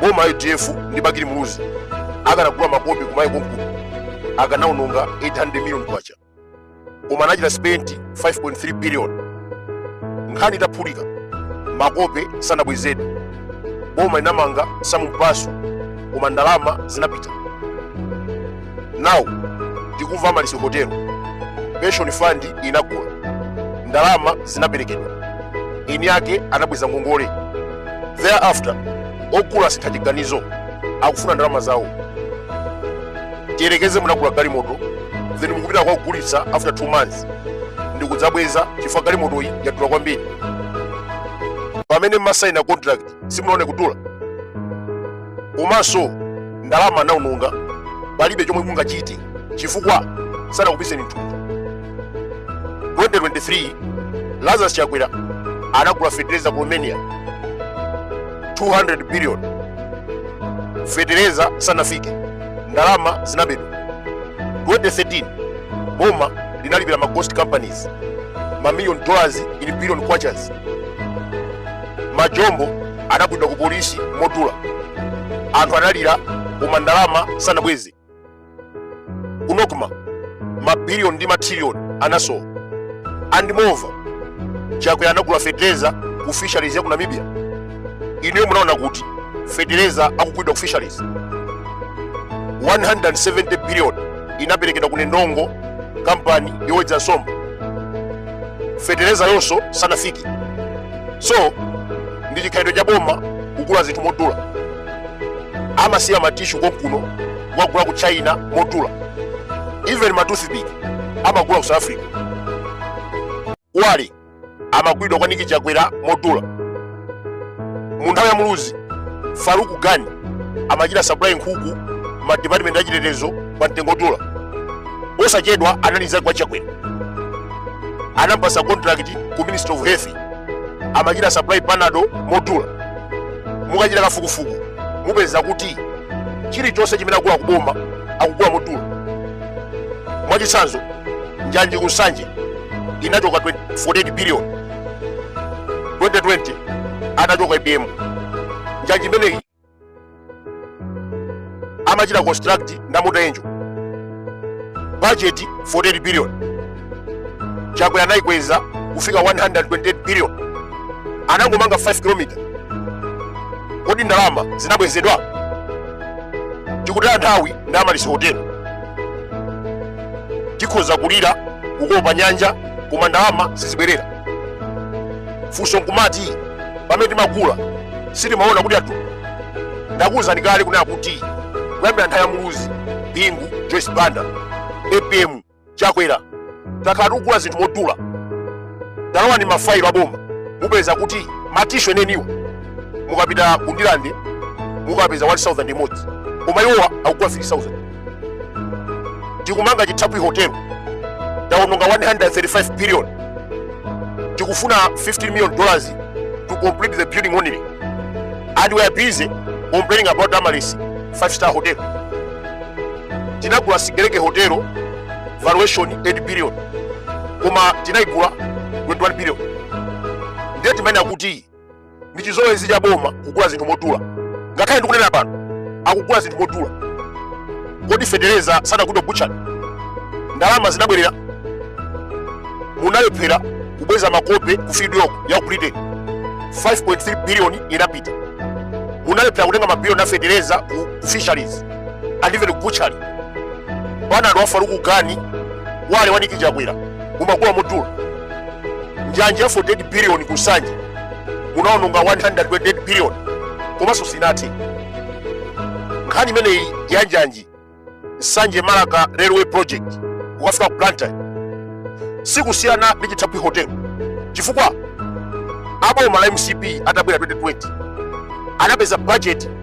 boma la udf ndi bakili muluzi akanagula makope ku malawi konkuno akanaononga 800 million kwacha koma anachita spend 5.3 billion nkhani itaphulika makope sanabwezedwe boma linamanga sam mpasu koma ndalama zinapita now tikumva amaryllis hotel pension fund inagula ndalama zinaperekedwa eni ake anabweza ngongole thereafter ogula asintha chiganizo akufuna ndalama zawo tiyerekeze munagula galimoto then mukupita kwakugulitsa after 2 months ndikudzabweza chifukwa galimotoyi yadula kwambiri pamene mmasaina contract simunaone kudula komanso ndalama anaononga palibe chomwe mungachite chifukwa sanakupiseni mthumba 2023 lazarus chakwera anagula fetereza ku romania 200 billion fetereza sanafike ndalama zinabedwa 2013 boma linalipira ma ghost companies mamillion dollars in billion kwachas majombo anagulidwa ku polisi modula anthu analira koma ndalama sanabweze kunoku ma mabiliyoni ndi matrilioni anasowa and moreover chakwera anagula fetereza ku fisheries ya ku namibia inuyo munaona kuti fetereza akugulidwa ku fisheries 170 billion inaperekedwa ku nendongo kampani yowedza nsomba feterezayonso sanafike so ndi chikhalidwe cha boma kugula zinthu modula amasiya matishu konkuno kukagula ku china modula even matoothpick amagula ku south africa wali amagulidwa kwa nick chakwera modula mu nthawi ya muluzi farook gani amachita supply nkhuku ma department achitetezo pa mtengo odula posachedwa analiza kwa chakwera anampasa contract ku ministry of health amachita supply panado modula mukachita kafukufuku mupeza kuti chilichonse chimene akugula kuboma akugula modula mwachitsanzo njanji ku nsanje inachoka 48 billion 2020 anachoka apm njanji imeneyi amachita construct nda mota engil budget 48 billion chakwera anayikweza kufika 128 billion anangomanga 5 km kodi ndalama zinabwezedwa tikutaya nthawi ndi amaryllis hotel tikhoza kulira kukopa nyanja koma ndalama sizibwerera funso nkumati pamene timagula sitimaona kuti adula ndakuwuzani kale kunena kuti kuyambira nthawi ya muluzi bingu joyce banda apm chakwera takhala tikugula zinthu modula talowani mafailo aboma mupeza kuti matishu eneniwa mukapita ku ndirande mukapeza 1000 imodzi koma iwowa akugula 3000 tikumanga chithaphwi hotel taononga 135 billion tikufuna 15 million dollars to complete the building only and we are busy complaining about amaryllis 5 star hotel tinagula sigelege hotelo valuation 8 billion koma tinaigula 21 billion ndiye timayenera kuti ndi chizolowezi cha boma kugula zinthu modula ngakhale ndikunena pano akugula zinthu modula kodi fetereza sanagulidwe ku butchery ndalama zinabwerera munalephera kubweza makope ku fieldyork ya ku britain 5.3 billion inapita munalephera kutenga mabilioni a fetereza ku ku fisheries and even ku butchery bwana anu a faruk gani wale wa nick chakwera mumagula modula njanji ya 48 billion ku nsanje munaononga 128 billion komanso sinathe nkhani imeneyi ya njanji nsanje marka railway project kukafika ku blantyre sikusiyana ndi chithaphwi hotel chifukwa aboma la mcp atabwera 2020 anapeza budget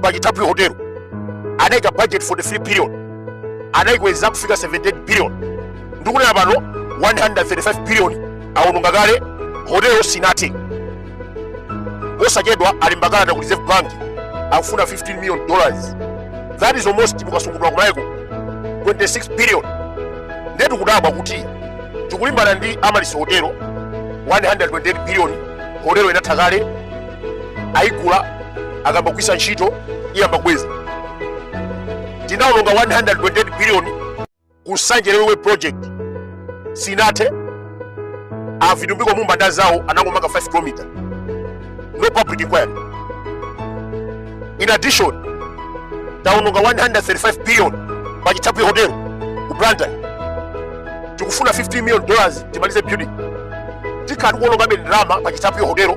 pachithaphwi hotelo anaika budget 43 billion anaikweza kufika 78 billion ndikunena pano 135 billion awononga kale hotelo sinathe posachedwa alemba kalata ku reserve bank akufuna 15 million dollars that is almost mukasungulwa kumayeko 26 billion nde tikudabwa kuti tikulimbana ndi amaryllis hotelo 128 billion hotelo inatha kale ayigula akamba kuisa ntchito iyamba kubweza tinaononga 128 billion ku nsanje railway project sinathe a vitumbiko mumba ndi anzawo anangomanga 5 km no public inquiry in addition taononga 135 billion pa chithaphwi hotel ku blantyre tikufuna 15 million dollars timalize building tikhala tikuonongabe ndalama pa chithaphwi hotel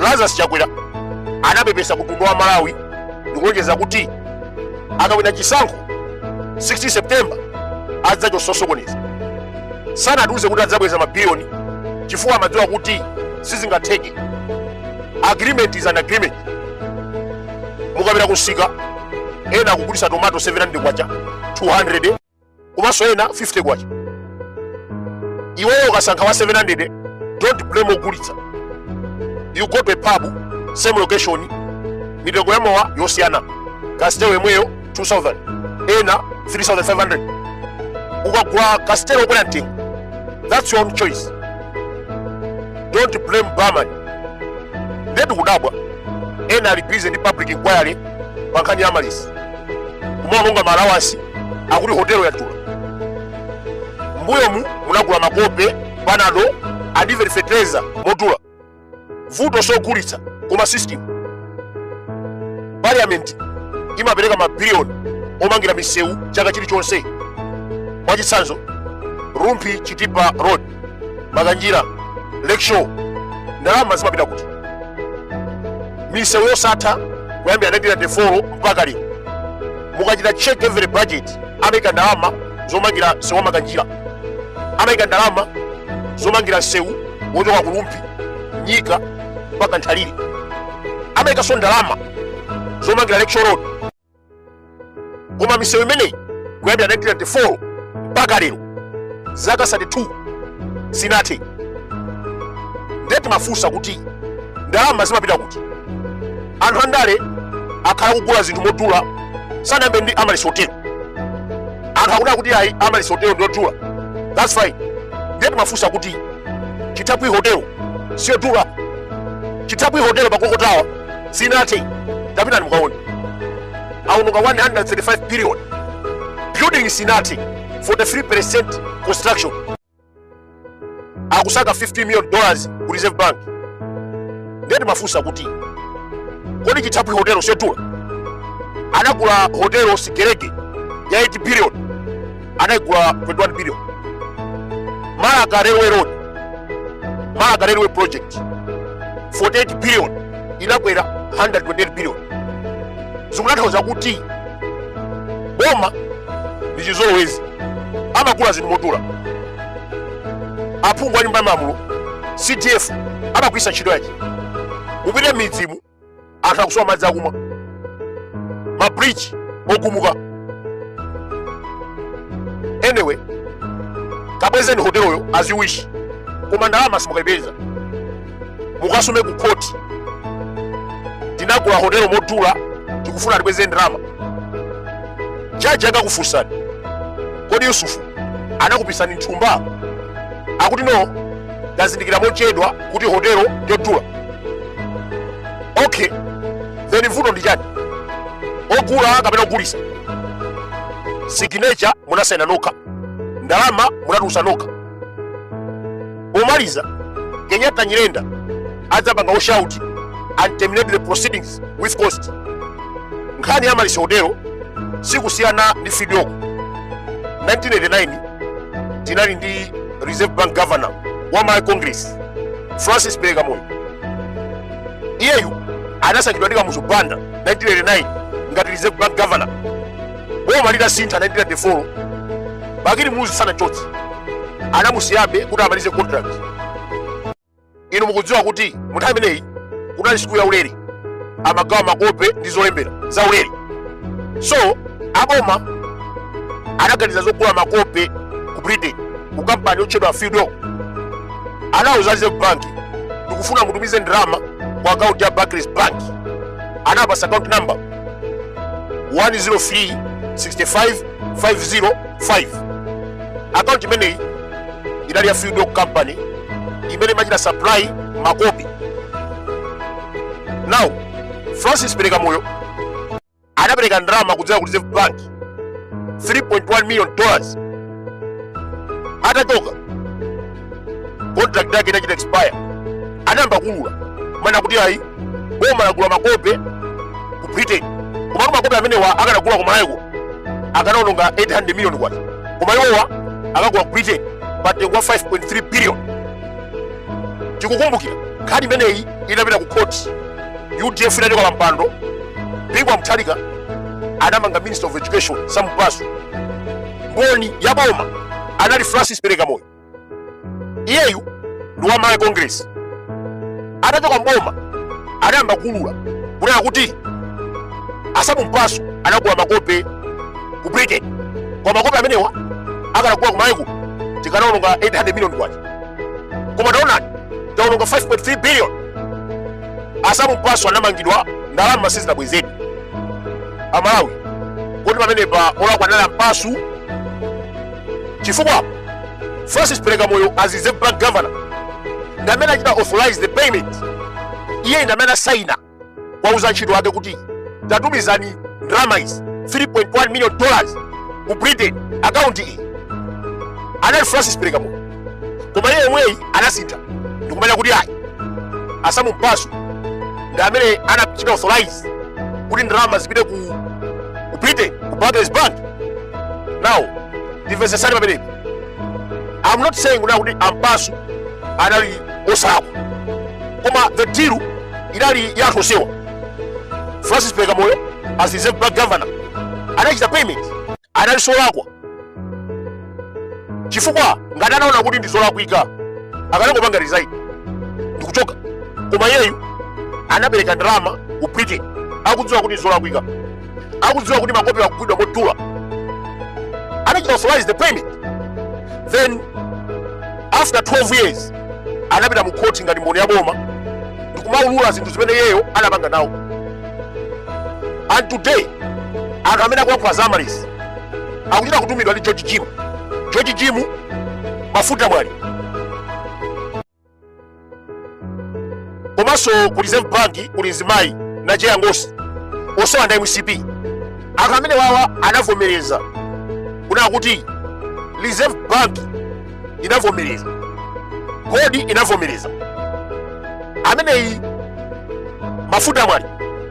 lazarus chakwera anapepesa ku mtundu wa malawi ndikulonjeza kuti akawina chisankho 16 september adzachotsa osokoneza sanatiuze kuti adzabweza mabiliyoni chifukwa amadziwa kuti sizingatheke agreement is an agreement mukapita kumsika ena akugulitsa tomato 700 kwacha 200 komanso ena 50 kwacha iweyo ukasankha wa 700 don't blame ogulitsa you go to a pub same location mitengo ya mowa yosiyana kasitelo yemweyo 2000 ena 3500 ukagula kasitelo okwera mtengo that's your own choice don't blame barman nde tikudabwa ena ali busy ndi public inquiry pankhani ya amaryllis kumaononga ma allowance akuti hotelo yadula mbuyomu munagula makope panado adiveri fetereza modula vuto sogulitsa koma system parliament imapereka mabiliyoni omangira misewu chaka chilichonse mwachitsanzo rumphi chitipa road makanjira lakeshore ndalama zimapita kuti misewu yosatha kuyambira 1994 mpaka lero mukachita check every budget amaika ndalama zomangira msewu wa makanjira amaika ndalama zomangira msewu wochoka ku rumphi nyika mpaka nthalire amaikanso ndalama zomangira lakeshore road koma misewu imeneyi kuyambira 1994 mpaka lero zaka 32 sinathe ndiye timafunsa kuti ndalama zimapita kuti anthu andale akhala akugula zinthu modula sanayambe ndi amaryllis hotelo anthu akuti kuti ayi amaryllis hotelo ndiyodula that's fine ndiye timafunsa kuti chithaphwi hotelo siyodula chithaphwi hotelo pa clock tower sinathe tapitani mukaone aononga 135 billion building sinathe 43% construction akusaka 50 million dollars ku reserve bank nde timafunsa kuti kodi chithaphwi hotelo siyodula anagula hotelo sigelege ya 8 billion anayigula 21 billion marka railway road marka railway project 48 billion inakwera 128 billion zikutanthauza kuti boma ndi chizolowezi amagula zinthu modula aphungu a nyumba ya malamulo cdf amagwiritsa ntchito yachi kupita m'midzimu anthu akusowa madzi akumwa mabridge ogumuka anyway kabwezeni hoteloyo as you wish koma ndalama simukaipeza mukasume ku khoti tinagula hotelo modula tikufuna tibweze ndalama jaji akakufunsani kodi yusufu anakupisani m'thumba akuti no ndazindikira mochedwa kuti hotelo ndiyodula okay then vuto ndi chani ogula kapena ogulitsa signature munasayina nokha ndalama munatulutsa nokha pomaliza kenyatta nyirenda adzapanga oshauti and terminate the proceedings with cost nkhani ya amaryllis hotelo sikusiyana ndi fieldyork 1989 tinali ndi reserve bank governor wa malawi congress francis pelekamoyo iyeyu anasankhidwa ndi kamuzu banda 1989 ngati reserve bank governor boma litasintha 1994 bakili muluzi sanamchotse anamusiyabe kuti amalize contract inu mukudziwa kuti mu nthawi imeneyi kunali sukulu yaulere amagawa makope ndi zolembera zaulere so aboma anaganiza zogula makope ku britain ku kampani yotchedwa fieldyork anauza reserve bank ndikufuna mutumize ndalama ku akaunti ya barclays bank anawapatsa account number 103 65 505 akaunti imeneyi inali ya fieldyork company imene imachita supply makope now francis pelekamoyo anapereka ndalama kudzera ku reserve bank 3.1 million dollars atachoka contract yake inachita expire anayamba kuulula mana kuti ayi boma lagula makope ku britain komatu makope amenewa akanagula kumalawi kuno akanaononga 800 million kwacha koma iwowa akagula ku britain pa mtengo wa 5.3 billion tikukumbukira nkhani imeneyi inapita ku khoti udf inachoka pa mpando bingu wa mutharika anamanga minister of education sam mpasu mboni ya boma anali francis pelekamoyo iyeyu ndi wa malawi congress atachoka mboma anayamba kuulula kunena kuti a sam mpasu anagula makope ku britain koma makope amenewa akanagula kumalawi kuno tikanaononga 800 million kwacha koma taonani taononga 5.3 billion a sam mpasu anamangidwa ndalama sizinabwezedwe amalawi kodi pamenepa olakwa anali a mpasu chifukwa francis pelekamoyo as reserve bank governor ndi amene anachita authorize the payment iye ndi amene anasaina kuwauza antchito ake kuti tatumizani ndalama izi 3.1 million dollars ku britain akaunti iyi anali francis pelekamoyo koma iye yemweyi anasintha ndikumanena kuti ayi a sam mpasu ndi amene anachita authorize kuti ndalama zipite ku ku britain ku barclays bank now ndimvetsetsani pamenepo i'm not saying kunena kuti a mpasu anali osalakwa koma the deal inali ya anthu onsewa francis perekamoyo as reserve bank governor anachita payment analinso olakwa chifukwa ngati anaona kuti ndi zolakwika akanangopanga resign ndikuchoka koma iyeyu anapereka ndalama ku britain akudziwa kuti ndi zolakwika akudziwa kuti makope akugulidwa modula anachita authorize the payment then after 12 years anapita mu court ngati mboni ya boma ndikumaulula zinthu zimene iyeyo anapanga nawo and today anthu amene akulankhula za amaryllis akuchita kutumidwa ndi george jim george jim mafuta mwale komanso ku reserve bank kuli mzimayi na jeya ngosi onsewa ndi a mcp anthu amene wawa anavomereza kunena kuti reserve bank inavomereza kodi inavomereza ameneyi mafuta mwale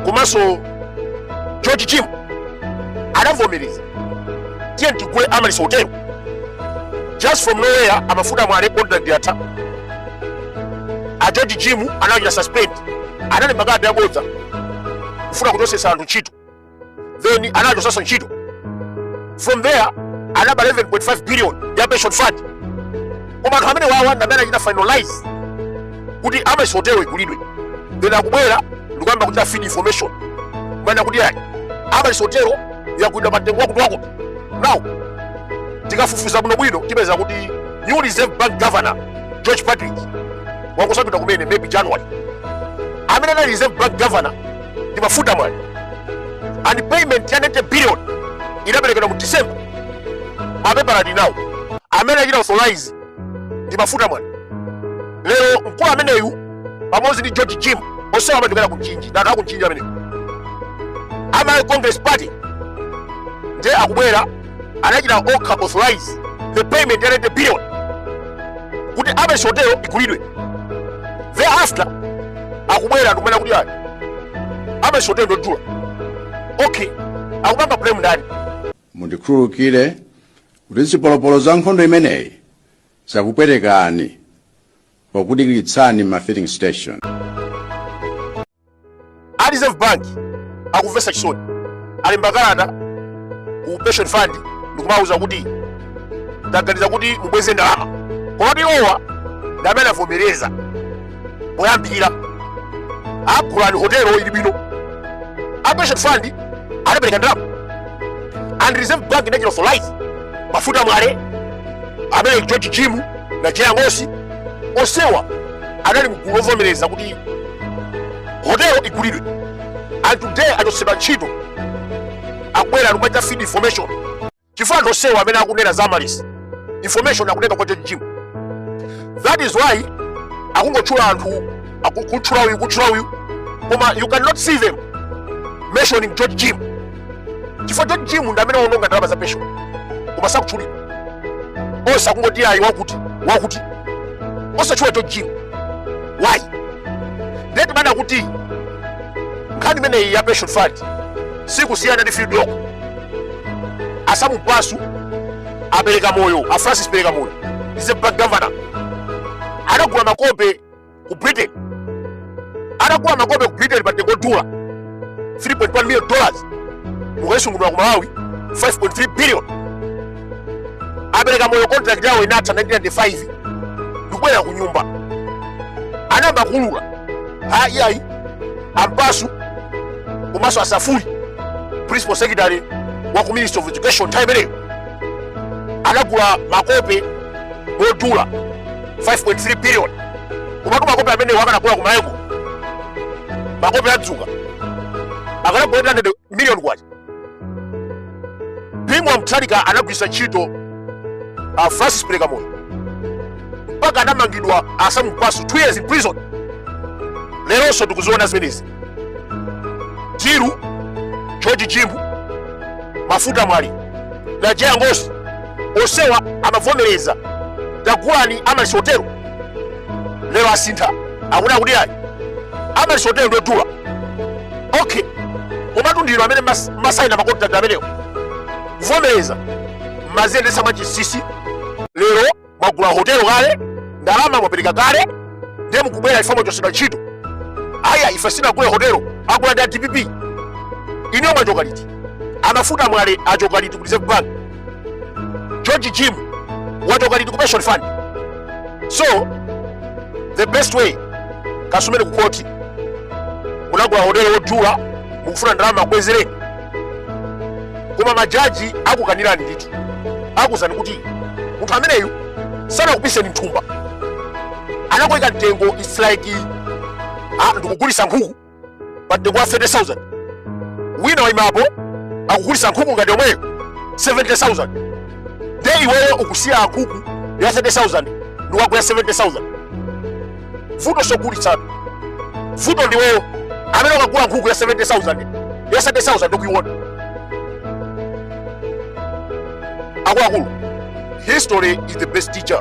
komanso george jim anavomereza tiye tigule amaryllis hotel just from nowhere a mafuta mwale contract yatha a george jim anawachita suspend analemba kadi yabodza kufuna kuchotsetsa anthu ntchito then anachotsetsa ntchito from there anaba 11.5 billion ya pension fund koma anthu amene wawa ndi amene achita finalize kuti amaryllis hotel igulidwe then akubwera ndikuyamba kuchita feed information kumanena kuti ayi amaryllis hotel yagulidwa pa mtengo wakuti wakuti now tikafufuza bwinobwino tipeza kuti new reserve bank governor george partridge wangosankhidwa kumene maybe january amene anali reserve bank governor ndi mafuta mwale and payment ya 90 billion inaperekedwa mu december mapepala ali nawo amene achita authorize ndi mafuta mwale lero mkulu ameneyu pamodzi ndi george jim onsewa amachokera ku mchinji ndi anthu aku mchinji amenewo a malawi congress party ndiye akubwera anachita okha authorize the payment ya 90 billion kuti amaryllis hotel igulidwe thereafter akubwera ndikumanena kuti ayi amaryllis hotel njodula okay akupanga blame ndani mundikhululukire kuti zipolopolo za nkhondo imeneyi zakupwetekani pokudikiritsani ma filling station a reserve bank akumvetsa chisoni alemba kalata ku pension fund ndikumawauza kuti taganiza kuti mubweze ndalama komatu iwowa ndi amene avomereza poyambira agulani hotelo ili bwino a pension fund anapereka ndalama and reserve bank inachita authorize mafuta mwale amene george jim na jeya ngosi onsewa anali mgulu lovomereza kuti hotelo igulidwe and today achotsedwa ntchito akubwera kumachita feed information chifukwa anthu onsewo amene akunena za Amaryllis information akutenga kwa George Jim that is why akungotchula anthu akutchula uyu kutchula uyu koma you cannot see them mentioning George Jim chifukwa george jim ndi amene waononga ndalama za pension koma sakutchulidwa onse akungoti ayi wakuti wakuti osatchula george jim why ndiye timaona kuti nkhani imeneyi ya pension fund sikusiyana ndi fieldyork a sam mpasu a pelekamoyo a francis pelekamoyo reserve bank governor anagula makope ku britain anagula makope ku britain pa mtengo wodula 3.1 million dollars mukaisungunula ku malawi 5.3 billion a pelekamoyo contract yawo inatha 1995 ndikubwera ku nyumba anayamba kuulula aa iyayi a mpasu komanso a safuli principal secretary wa ku ministry of education time imeneyo anagula makope modula 5.3 billion komatu makope amenewa akanagula kumayeko makope a dzuka akanagula 800 million kwacha bingu wa mutharika anagwiritsa ntchito uh, francis pelekamoyo mpaka anamangidwa a sam mpasu 2 years in prison leronso tikuziona zimenezi through george jim mafuta mwale na jeya ngosi onsewa amavomereza tagulani amaryllis hotel lero asintha akuti akuti ayi amaryllis hotel ndodula okay komatu ndinu amene mas- masayina makontrakt amenewo kuvomereza maziyendetsa mwachinsinsi lero mwagula hotelo kale ndalama mwapereka kale ndiye mukubwera ife mwachotsedwa ntchito aya ife sinagule hotelo agula ndi a dpp inuyo mwachoka liti a mafuta mwale achoka liti ku reserve bank george jim wachoka liti ku pension fund so the best way kasumene ku koti munagula hotelo wodula mukufuna ndalama akubwezereni koma majaji akukanirani ndithu akuuzani kuti munthu ameneyu sanakupiseni m'thumba anakuyika mtengo its like ah, ndikugulisa nkhuku pa mtengo wa 30000 wina waimapo akugulisa nkhuku ngati yomweyo 70000 nde iweyo ukusiya nkhuku ya 30000 n'kukagula 70000 vuto si ogulitsatu vuto ndiweyo amene ukagula nkhuku ya 70000 ya 70000 ukuiona akuluakulu history is the best teacher